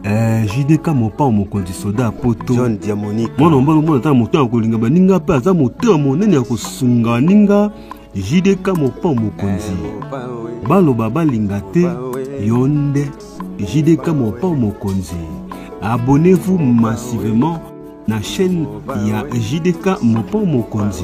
Eh, jdk mopao mokonzi soda ya poto john diamonique mwana mobali omona ata na moto ya kolinga baninga mpe aza moto ya monene ya kosunga baninga jdk mopao mokonzi eh, baloba balinga te yo nde jdk mopao mokonzi abonnez-vous massivement na chaîne ya jdk mopao mokonzi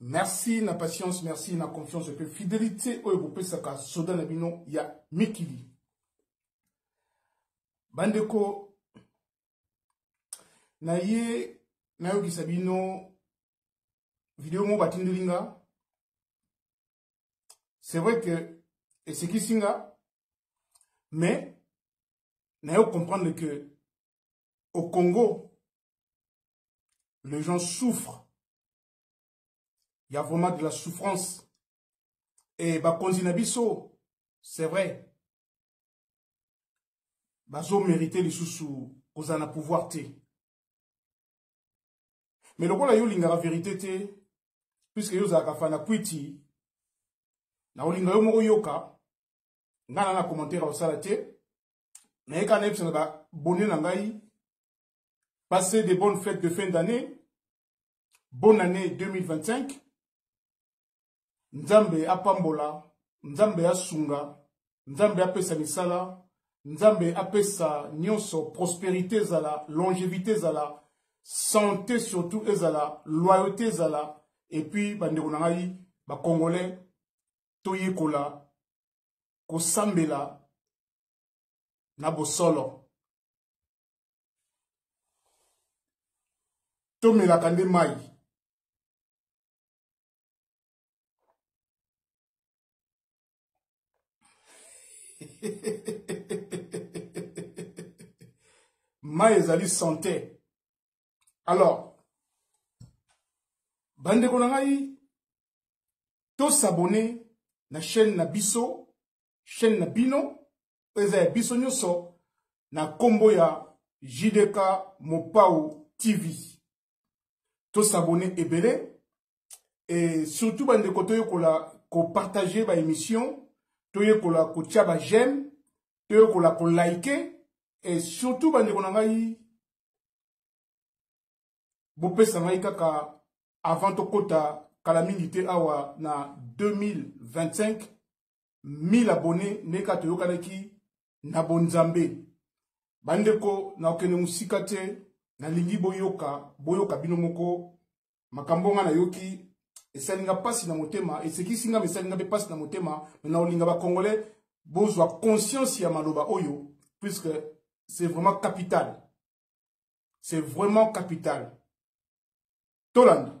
merci na patience merci na confiance mpe fidelité oyo bopesaka soda na bino ya mikili bandeko naye nayokisa bino video moko batindeli nga c'est vrai que esekisi nga mais nayo comprendre que au congo les gens souffrent il y a vraiment de la souffrance et bakonzi na biso c'est vrai bazo mérité lisusu kozala na pouvoir te mais lokola yo olingaka vérité te puiske yo ozalaka fana kwiti na olinga yo moko yoka ngai na na commentaire osala te naye kaka nayebisa na babone na ngai Passez de bonnes fêtes de fin d'année. Bonne année 2025. Nzambe apambola, Nzambe asunga, Nzambe apesa misala, Nzambe apesa nyonso prospérité zala, longévité zala, santé surtout ezala, loyauté zala et puis bandeko na ngai ba congolais toyekola kosambela na bosolo tomelaka nde mai mai ezali sante alors bandeko na ngai tosabone na chaîne na biso chaîne na bino eza ya biso nyonso na kombo ya JDK Mopao TV tosabone ebele et surtout bandeko toyekola kopartage baémission toyekola kotya bajeme toyekola kolike et surtout bandeko na ngai bopesa ngai kaka avant tokɔta kala mingi te awa na 2025 1000 abonne nde kaka toyokanaki na bonzambe bandeko na okende mosika te nalingi boyoka boyoka bino moko makambo nga nayoki esali nga mpasi na motema esekisi nga mesali nga mpe mpasi na motema me na olinga bacongolais bozwa conscience ya maloba oyo puisque c'est vraiment capital c'est vraiment capital tolanda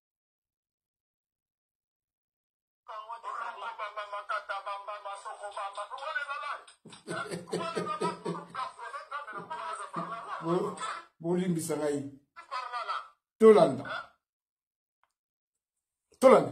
bolimbisa ngai tolanda tolanda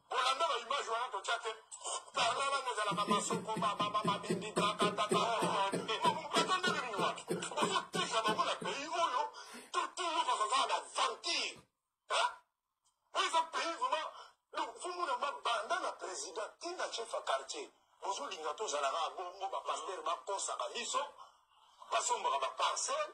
Kolanda ba image wana totya te. Parla wana ezalaka masoko mababa mabindi kakataka. Bato ndenge nini wapi? Ozoteka bango na pays oyo totulu bakazala na vampire. Oyo eza pays vraiment donc fomona mabanda na président tina chef ya quartier bozolinga tozalaka bongo bapastere bakosaka biso basombaka baparcelle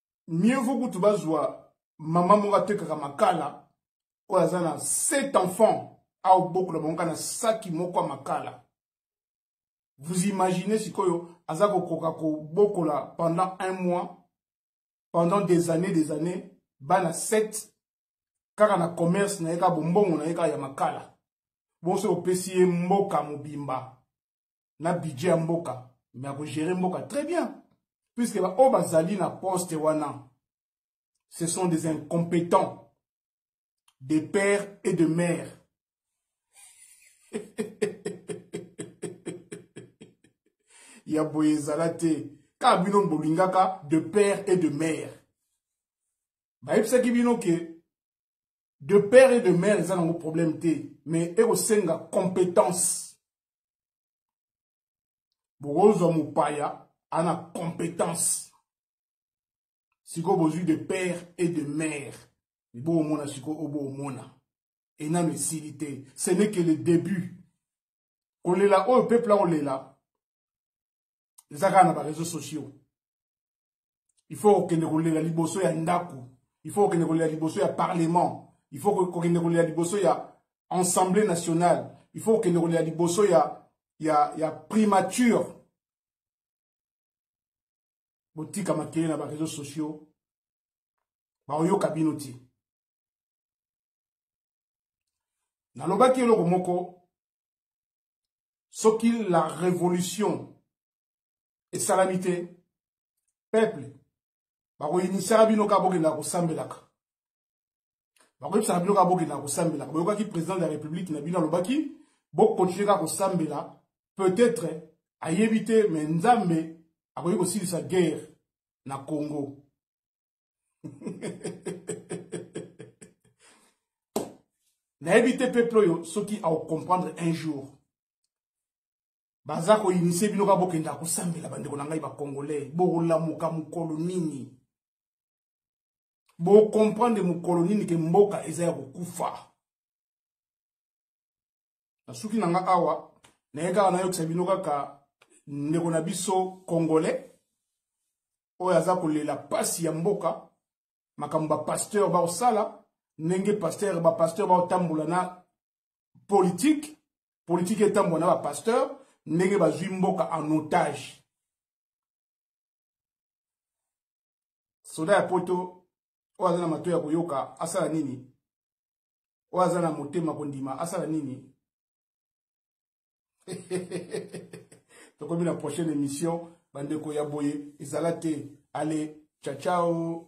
mieux vaut kutu bazwa mama moko atekaka makala oyo aza na sept enfants aobokola bango kaka na saki moko ya makala vous imaginez sikoyo aza kokoka kobokola pendant un mois pendant des années des années bana sept kaka na commerce na ye kaka bombongo na ye kaka ya makala bonso opesi ye mboka mobimba na budget ya mboka me akogere mboka très bien puisque baoyo bazali na poste wana ce sont des incompétents de père et de mère ya boye ezala te kaka bino bolingaka de père et de mère bayebisaki bino ke de père et de mère eza nango problème te mais ekosenga compétence bokozwa mopaya ana compétence sikoyo bozwi de père et de mère ebomona sikoyo obomona enano esili te ce n'est que le début kolela oyo peuple akolela eza kaka na bareseau sociaux il faut kokende kolela liboso ya ndako il faut kokende kolela liboso ya parlement il faut kokende kolela liboso ya assemblée nationale il faut kokende kolela liboso ya, ya, ya primature botika makele na bareseau sociaux baoyoka bino te nalobaki eloko moko soki la révolution esalami te peuple bakoyinisaka bino kaka bokendaka kosambelaka bakoyebisaka bino kaka bokendaka kosambelaka boyokaki président de la république na bino alobaki bokontinue kaka kosambela peut-être ayebi te me nzambe akoki kosilisa guerre na congo nayebi te peuple oyo soki aocomprendre un jour baza koinisie bino kaka bokendaka kosambela bandeko na ngai bacongolais bokolamuka mokolo nini bocomprendre mokolo nini ke mboka eza ya kokufa nasuki na nga awa naye kaka nayokisa bino kaka ndeko na biso congolais oyo aza kolela mpasi ya mboka makambo bapasteur baosala ndenge pasteur bapasteur baotambola na politike politike etambola na bapasteur ndenge bazwi mboka en otage soda ya poto oyo aza na mato ya koyoka asala nini oyo aza na motema kondima asala nini tokomi na prochaine émission bandeko ya boye ezala te ale chachao